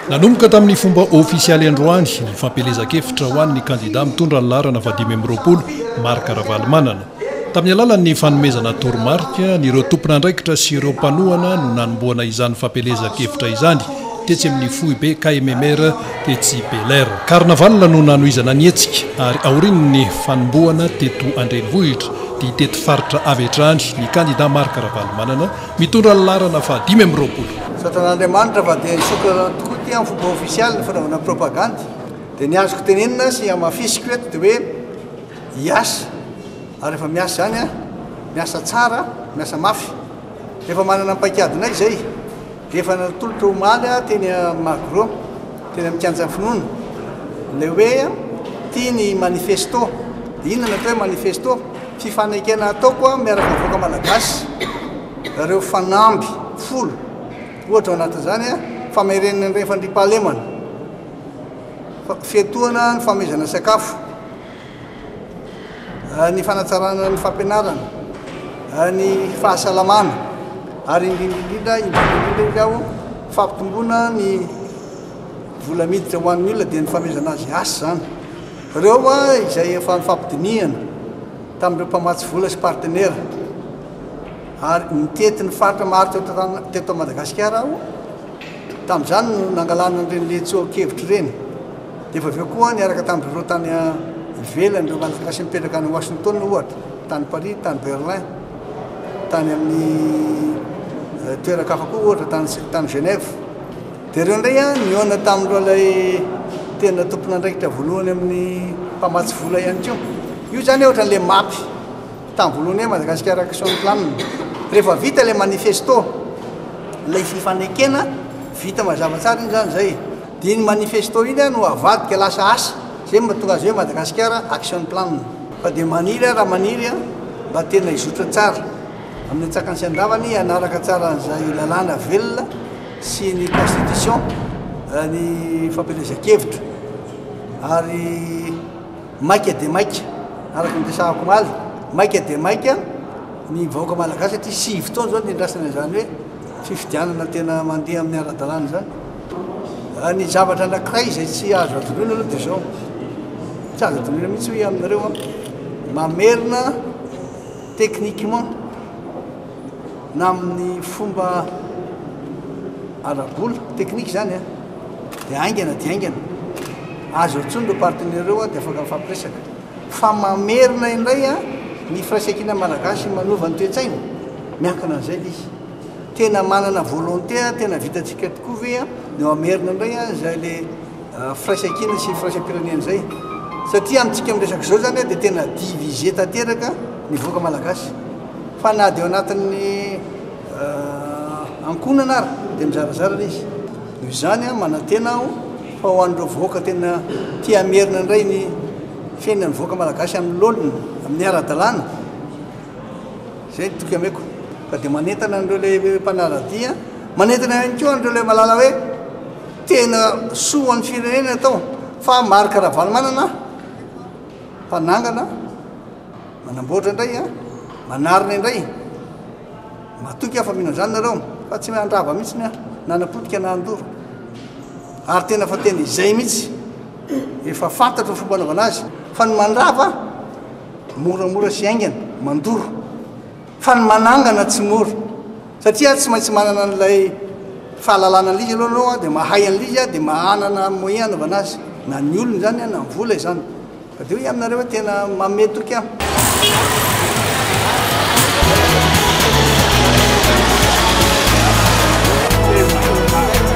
Nanomboka tamin'ny fomba ofisialy androany ny fampielezan-kevitra ho an'ny kandidà mitondra ny laharana fahadimy amby roapolo, Marc Ravalomanana. Tamin'ny alalan'ny fanomezana toromarika, an'ireo tompon'andraikitra sy ireo mpanohana no nanombohana izany fampielezan-kevitra izany, tetsy amin'ny foibe KMMR tetsy Bel'Air. Carnaval no nanohizana ny hetsika ary aorian'ny fanombohana teto an-drenivohitra, dia tety faritra avy hatrany ny kandidà Marc Ravalomanana, Mitondra ny laharana faha dimy amby roapolo. Satan'Andriamanitra fa dia nisokatra rano tokoa ity amin'ny fomba ofisialy ny fanaovana propagandy. Dia ny azoko tenenina sy hamafisiko eto dia hoe hiasa ary efa miasa izany an! Miasa tsara, miasa mafy. Efa manana ny paikadinay izay. Efa natolotra omaly aho teny Magro, teny amin'ny kianjan'ny finoana, ilay hoe tia ny manifesto. Dia inona no atao hoe manifesto? Fifanekena ataoko amin'ny miaraka vahoaka Malagasy ireo fanamby folo, ohatra ao anatin'izany famerenana ireny fandriampahalemana, fiatohana ny famehezana sakafo, ny fanatsarana ny fampianarana, ny fahasalamana ary indrindra indrindra indrindra indrindra izy aho fampitomboana ny vola miditra ho an'ny olona dia ny famehezana azy asa izany. Ireo hoa izay efa nifampidinihana tamin'ireo mpamatsy vola sy partenera ary nitety ny faritra maro teto Madagasikara aho, tamin'izany no nangalana an'ireny letsoa-kevitra ireny, dia efa avy eo koa niaraka tamin'ireo tany ivelany ireo Malagasy mipetraka any Washington ohatra, tany Paris, tany Berlin, tany amin'ny toeran-kafa koa ohatra tany Genève. Dia ireo indray an, nihaona tamin'ireo ilay tena tompon'andraikitra voalohany amin'ny mpamatsy vola ihany koa. Io izany ohatra ilay mapy tamin'ny voalohany hoe Madagascar Action Plan. Rehefa vita ilay manifesto, ilay fifanekena, vita mazava tsara iny izany izay. Dia iny manifesto iny no avadika lasa asa, izay no mahatonga azy hoe Madagascar Action Plan. Fa dia maniry aho raha maniry an, mba tena hizotra tsara amin'ny antsakany sy andavany hanaraka tsara an'izay lalàna velona. sy ny constitution ny fampielezan-kevitra ary maika dia maika araka ny resahako omaly maika dia maika ny vahoaka malagasy satria sivy taona izao niandrasana izany hoe fifidianana tena mandeha amin'ny ara-dalàna izany ny zavatra anankiray izay tsy azo adinoina aloha dia izao tsy azo adinoina mihitsy hoe aminareo mamerina techniquement na amin'ny fomba ara-bola, technique izany an, dia haingana dia haingana, aza eo intsony ireo partenaires ireo an, dia afaka mifampiresaka, fa mamerina indray an, ny firaisankina malagasy manova ny toe-tsaina, miankina an'izay ilay izy, tena manana volonté an, tena vitantsika tokoa ve an, no hamerina indray an, izay ilay. firaisankina sy firaisam-pirenena izay satria amintsika miresaka izao izany dia tena divisé tanteraka ny vahoaka malagasy fa na dia ao anatin'ny ankohonana ary dia mizarazara ilay izy noho izany manantena aho fa ho an'ireo vahoaka tena tia hamerina indray ny fiainan'ny vahoaka malagasy amin'ny laoniny amin'ny ara-dalàna izay ny toky ameko ka dia manentana an'ireo ilay mpanaradia manentana ihany koa an'ireo ilay malala hoe Tena soa ho an'ny firenena ny atao fa Marc Ravalomanana mpanangana, manamboatra indray an, manarina indray, matoky aho fa mino an'izany nareo fa tsy handrava mihitsy ny ahy na hanapotika na handoro ary tena fa tena izay mihitsy efa fantatro ny fomba anaovana azy fa ny mandrava moramora sy haingana mandoro Fa ny manangana tsy mora satria tsy maintsy manana an'ilay fahalalana an'ilay izy aloha ianao dia mahay an'ilay izy dia manana moyen anaovana azy na ny olona izany na ny vola izany. Fa dia hoy aminareo hoe tena mamehy toky aho.